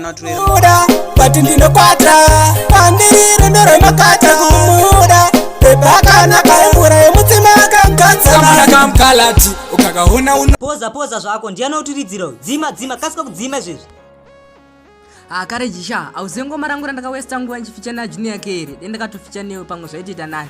muda vati ndinokwata pandiri rundo rwemakata kumuda pepakanaka mvura yemutsima akagatsaakamkalati ukakaona uno poza poza zvako ndiyani utiridziro dzima dzima kasika kudzima izvezvi hakare ah, jisha hauzive ngoma rangu randakawesta nguva ndichificha najunior yake here dendakatoficha newe pamwe zvaitoita nani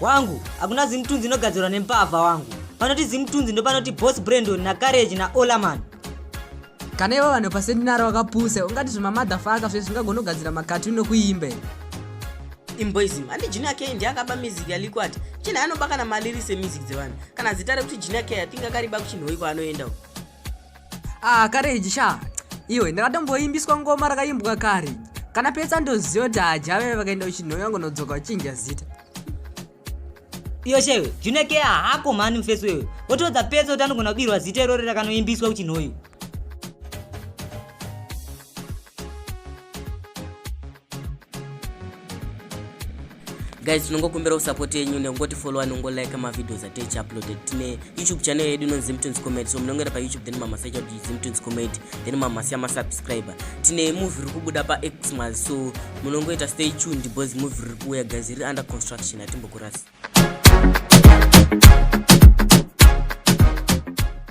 wangu hakuna zimutunzi inogadzirwa nembavha wangu panoti zimutunzi ndopanoti bos brandon nacarage naolaman kana ivo vanhu paseminari vakapusa ungati zvemamadhafaka zve zvingagonogadzira makatuni nokuimbe imboism handi junior k ndiye akaba music yalikwati china anobakana maliri semusic dzevanhu kana zita rekuti junior k atinga kariba kuchinhoiko anoenda uko ah kareji sha iwe ndakatomboimbiswa ngoma rakaimbwa kare kana petsa ndoziva kuti hajave vakaenda uchinhoya ngonodzoka uchinja zita iyo shewe junekeya hako mhani mufesi wewe wotoudza petsa kuti anogona kubirwa zita irori rakanoimbiswa uchinhoyo guys tinongokumbirawo support yenyu nekungoti follow anongo like mavideos atichi uploaded tine youtube channel yedu inonzi zimtunes comedy so munongera payoutube then mamasa icha kuti zimtunes comedy then mamasa yamasubscriber tine movie riri kubuda paxmas so munongoita stay tuned because movie riri kuuya guys riri under construction hatimbokurasi